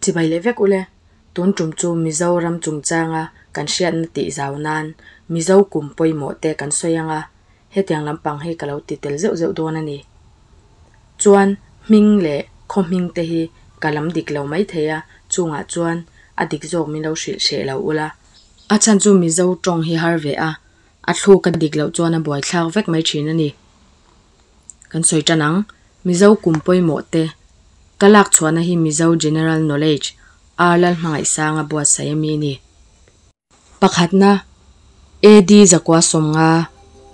Chibai leh vek ule, tun tum chu Mizoram chungchanga kan hriatna tih zau nan Mizo kum pawimawh te kan sawi anga, hetiang lampang hi ka lo ti tel zeuh zeuh dawn a ni. Chuan hming leh khawhming te hi ka lam dik lo mai thei a, chungah chuan a dik zawk min lo hrilh hreh lo ula. A chhan chu Mizo tawng hi har ve a, a thluk a dik loh chuan a buai thlak vek mai thin a ni. Kan sawi tan ang, Mizo kum pawimawh te, ka lak chhuahna hi Mizo General Knowledge, Ar Lal Hmangaihsanga buatsaih a mi ni. Pakhatna, AD Zakua Sawmnga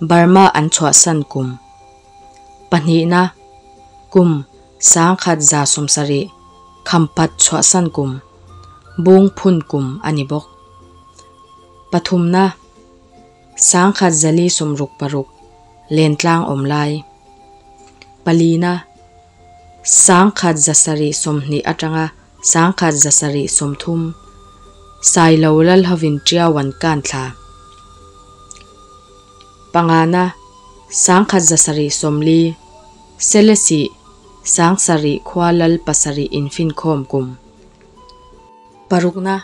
Burma an chhuahsan kum. Pahnihna, kum sangkhat za sawm sarih khampat chhuahsan kum, Bung phun kum a ni bawk. Pathumna, Sangkhat zali sumruk paruk len tlang awm lai. Palina, Sangkhat za sarih sawmhnih atanga sangkhat za sarih sawmthum sai lo lal hovin tiau an kan thla. Pangana, Sangkhat za sarih sawmli, sele sih, sang sarih khua lal pasarih infinkhawm kum. Parukna,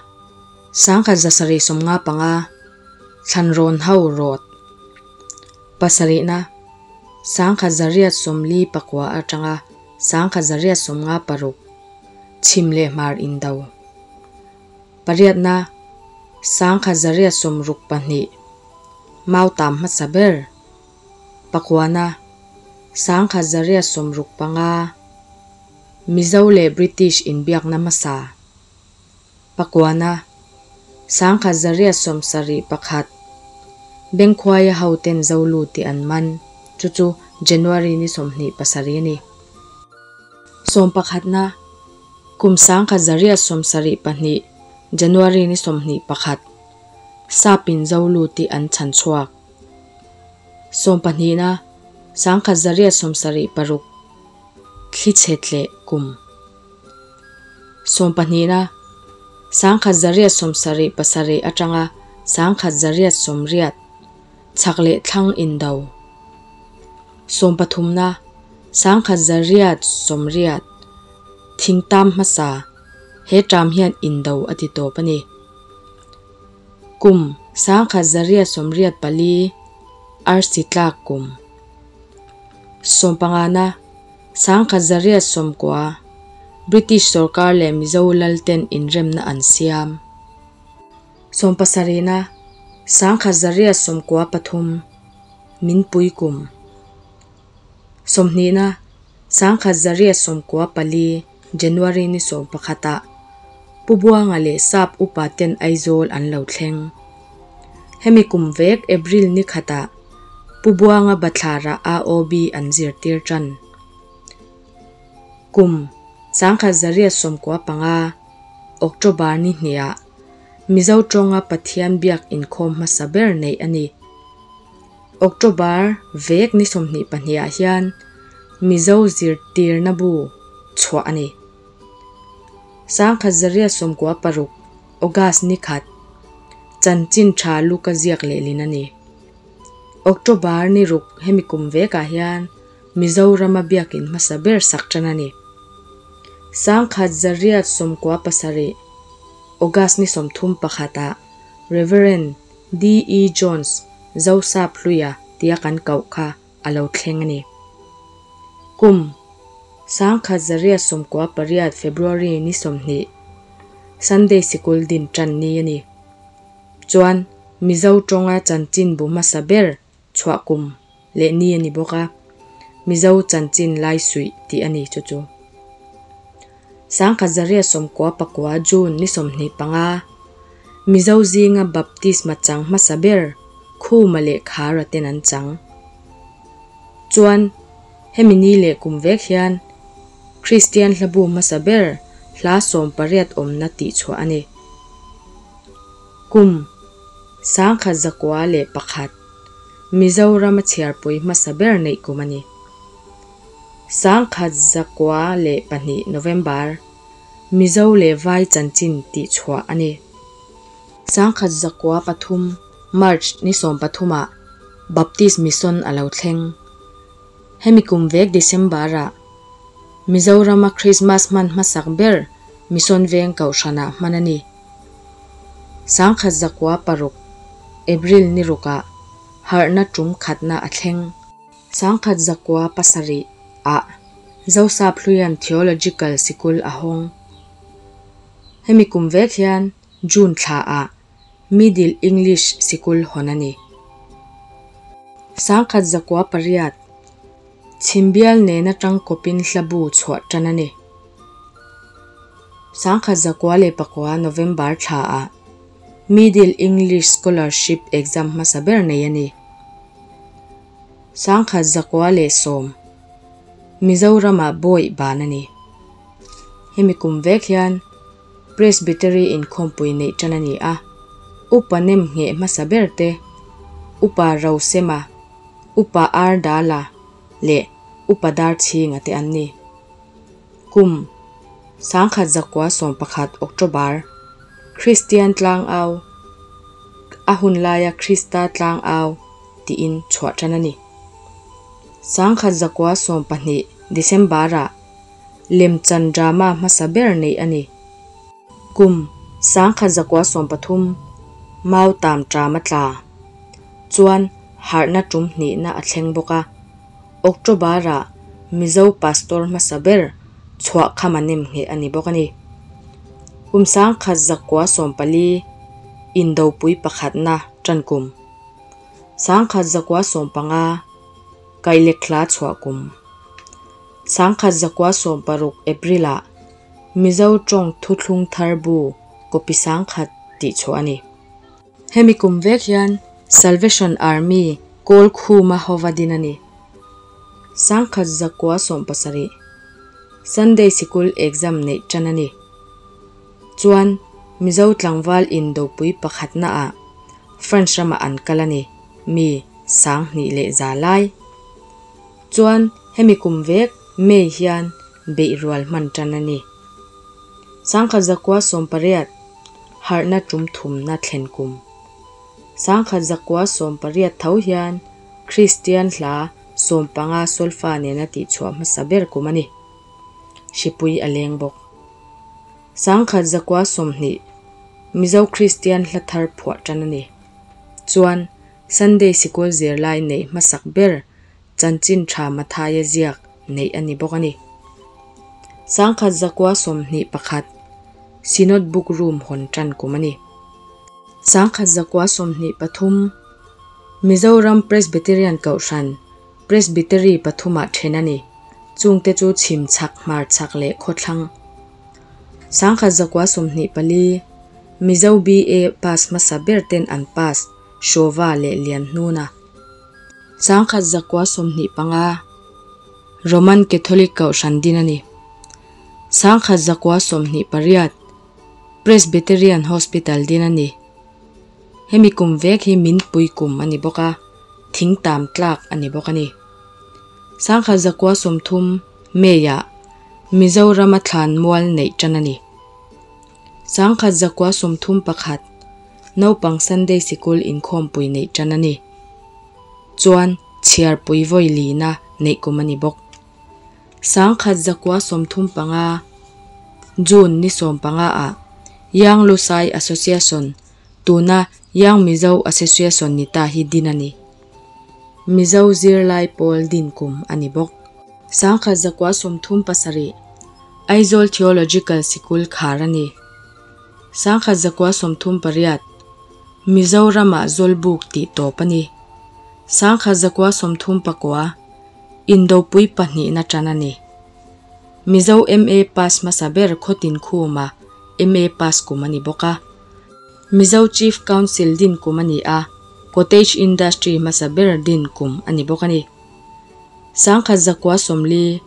Sangkhat za sarih sawmnga panga thlanrawn ho rawt. Pasarihna, Sangkhat za riat sawmli pakua atanga sangkhat za riat sawmnga paruk chhim leh hmar indo. Pariatna, Sangkhat za riat sawm ruk pahnih mau tam hmasa ber. Pakuana, Sangkhat za riat sawm ruk panga Mizo leh British inbiakna hmasa. Pakuana, Sangkhat Zariat sawm sarih pakhat, Bengkhuaia hoten Zolu tih an man, chu chu January ni sawmhnih pasarih a ni. Sawm pakhatna, Kum Sangkhat Zariat sawm sarih pahnih, January ni sawmhnih pakhat, Sapin Zolu tih an chhan chhuak. Sawm pahnihna, Sangkhat Zariat sawm sarih paruk, Thlichhe tleh kum. Sawm pahnihna, Sangkhat zariat sawm sarih pasarih atanga sangkhat zariat sawm riat chak leh thlang indo. Sawm pathumna, Sangkhat zariat sawm riat thing tam hmasa he ṭam hian indo a ti tawp a ni. Kum, Sangkhat zariat sawm riat pali arsi tlak kum. Sawm pangana, Sangkhat Zariat Sawmkua, British sorkar leh Mizo Lalten inremna an siam. Sawm pasarihna, Sangkhat Zariat Sawmkua pathum, min pui kum. Sawmhnihna, Sangkhat Zariat Sawmkua pali, January ni sawm pakhata Pu Buanga leh Sap upa ten Aizawl an lo thleng. Hemi kum vek April ni khata Pu Buanga Bathlara a OB an zir tir tan. Kum sangkhat Zaria sawmkua panga October ni hnea Mizo tawnga Pathian biak inkhawm hmasa ber neih a ni. October vek ni sawmhnih pahnih ah hian Mizo zirtirna bu chhuah a ni. Sangkhat Zaria sawmkua paruk August ni khat chanchin tha luka ziak leh lin a ni. October ni ruk hemi kum vek ah hian Mizoram a biakin hmasa ber sak tan a ni. Sangkhat Zaria sawmkua pasarih August ni sawmthum pakhat ah Rev. DE Jones, Zosa Pluia tia kan koh kha a lo thleng a ni. Kum, Sangkhat Zaria sawmkua pariat February ni sawmhnih, Sunday sikul din tan ni a ni. Chuan Mizo tawnga chanchinbu hmasa ber chhuah kum leh ni a ni bawk a, Mizo chanchin lai suih tih a ni chu chu. Sangkhat Zaria sawmkua pakua June ni sawmhnih panga Mizo zinga Baptisma chang hmasa ber Khuma leh Khara ten an chang chuan hemi ni leh kum vek hian Kristian hlabu hmasa ber hla sawm pariat awmna tihchhuah a ni. Kum, sangkhat zakua leh pakhat, Mizoram a chhiarpui hmasa ber neih kum a ni. Sangkhat zakua leh pahnih November, Mizo leh Vai chanchin tih chhuah a ni. Sangkhat zakua pathum, March ni sawm pathumah Baptist Mission a lo thleng. Hemi kum vek December-ah Mizorama Christmas hman hmasak ber Mission veng kohhranah hman a ni. Sangkhat zakua paruk, April ni rukah harhna tum khatna a thleng. Sangkhat zakua pasarih ah Josap Hluian Theological Sikul a hawng. Hemi kum vek hian June thla ah Middle English Sikul hawn a ni. Sangkhat zakua pariat chhimbial nen atang kawpin hlabu chhuah tan a ni. Sangkhat zakua leh pakua November thla ah Middle English Scholarship Exam hmasa ber nei a ni. Sangkhat zakua leh sawm Mizoram ah bawi ban a ni. Hemi kum vek hian Presbytery in khawmpui neih tan a ni a. Upa nem ngheh hmasa ber te, Upa Rosema, Upa Ardala leh Upa Darthinga te an ni. Kum, Sangkhat zakua sawm pakhat October, Kristian tlang au, a hun laia Krista tlang au tiin chhuah tan a ni. Sangkhat zakua sawm pahnih December-a Lemchan drama hmasa ber neih a ni. Kum, Sangkhat zakua sawm pathum Mau Tam Tama tla chuan harhna tum hnihna a thleng bawk a. October-a Mizo Pastor hmasa ber chhuah kham an nem ngheh a ni bawk a ni. Kumsang khat zakua sawm pali indopui pakhatna tan kum, sangkhat zakua sawm panga Kailekthla chhuah kum, sangkhat zakua sawm paruk April-a Mizo tawng thuthlung tharbu Kopi Sangkhat tih chhuah a ni. Hemi kum vek hian Salvation Army Kawl Khuma Hova din a ni. Sangkhat zakua sawm pasarih Sunday sikul exam neih tan a ni. Chuan Mizo tlangval in dopui pakhatna ah France ramah an kal a ni mi sang hnih leh za lai. Chuan hemi kum vek May hian beih rual hman tan a ni. Sangkhat zakua sawm pariat. harhna tum thumna thlen kum. Sangkhat zakua sawm pariat tho hian Kristian hla sawm panga sawlfa nena tihchhuah hmasa ber kum a ni. Hripui a leng bawk. Sangkhat zakua sawmhnih Mizo Kristian hla thar phuah tan a ni. Chuan Sunday sikul zirlai neih hmasak ber chanchin tha Mathaia ziak neih a ni bawk a ni. Sangkhat zakua sawmhnih pakhat Synod Book Room hawn tan kum a ni. Sangkhat zakua sawmhnih pathum Mizoram Presbyterian Kohhran Presbytery pathumah then a ni, chungte chu chhim chhak, hmar chhak leh khawthlang. Sangkhat zakua sawmhnih pali Mizo BA pass hmasa ber ten an pass, Shova leh Lianhnuna. Changkhat zakua sawmhnih panga Roman Catholic Kohhran din a ni. Changkhat zakua sawmhnih pariat Presbyterian Hospital din a ni. Hemi kum vek hi min pui kum a ni bawk a, thing tam tlak a ni bawk a ni. Changkhat zakua sawmthum May-ah Mizoram-a thlan mual neih tan a ni. Sangkhat zakua sawmthum pakhat naupang Sunday sikul inkhawmpui neih tan a ni. Chuan chhiarpui vawi lina neih kum a ni bawk. Sangkhat zakua sawmthum panga, June ni sawm panga ah Yang Lusai Association, Tuna Young Mizo Association ni ta hi din a ni. Mizo zirlai pawl din kum a ni bawk. Sangkhat zakua sawmthum pasarih Aizawl Theological Sikul khar a ni. Sangkhat zakua sawmthum pariat Mizoramah zawlbuk tih tawp a ni. Sangkhat zakua sawmthum pakua Indopui pahnihna tan a ni. Mizo MA pass hmasa ber khawtin khuma MA pass kum a ni bawk a. Mizo Chief Council din kum a ni a, Cottage Industry hmasa ber din kum a ni bawk a ni. Sangkhat Zakua Sawmli,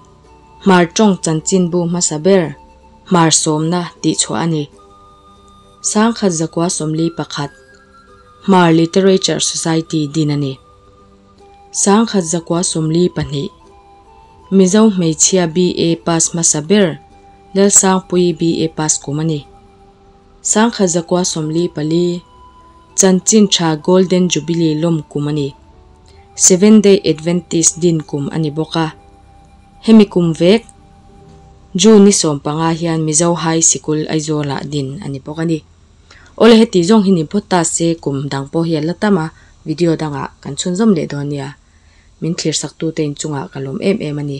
Hmar Tawng Chanchinbu hmasa ber Hmar Sawmna tih chhuah a ni. Sangkhat Zakua Sawmli pakhat, Hmar Literature Society din a ni. Sangkhat Zakua Sawmli pahnih, Mizo Hmeichhia BA Pass hmasa ber Lelsangpui BA Pass kum a ni. Sangkhat zakua sawmli pali chanchin tha Golden Jubilee lawm kum a ni. Seven Day Adventist din kum a ni bawk a. Hemi kum vek June ni sawm panga hian Mizo High Sikul Aizawlah din a ni bawk a ni. Awle heti zawng hi ni phawt ta se kum dang pawh hi a la tam a, video dangah kan chhunzawm leh dawn nia. Min thlirsaktu te inchungah ka lawm em em a ni.